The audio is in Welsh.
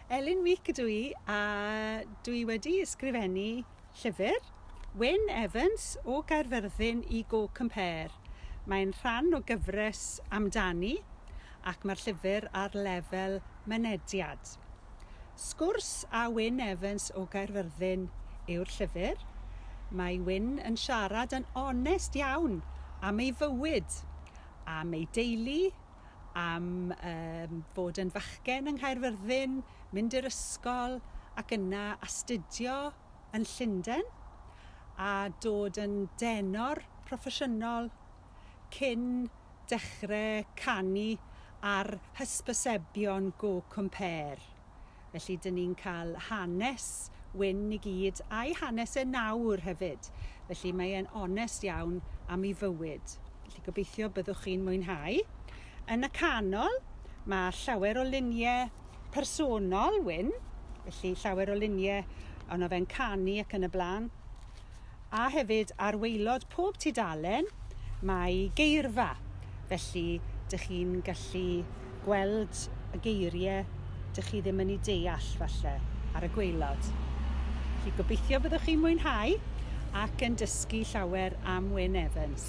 Elin Meek ydw i a dw i wedi ysgrifennu llyfr Wyn Evans o Gaerfyrddin i Go Compare. Mae'n rhan o gyfres amdani ac mae'r llyfr ar lefel mynediad. Sgwrs â Wyn Evans o Gaerfyrddin yw'r llyfr. Mae Wyn yn siarad yn onest iawn am ei fywyd, am ei deulu, am yym fod yn fachgen yng Nghaerfyrddin, mynd i'r ysgol ac yna astudio yn Llunden a dod yn denor proffesiynol cyn dechre canu ar hysbysebion Go Compare. Felly dyn ni'n cael hanes Wyn i gyd a'i hanes e nawr hefyd. Felly mae e'n onest iawn am ei fywyd. Felly gobeithio byddwch chi'n mwynhau. Yn y canol mae llawer o luniau personol Wyn. Felly llawer o luniau ono fe'n canu ac yn y blaen. a hefyd ar waelod pob tudalen mae geirfa, felly dych chi'n gallu gweld y geiriau dych chi ddim yn eu deall falle ar y gwaelod. Felly gobeithio byddwch chi'n mwynhau ac yn dysgu llawer am Wyn Evans.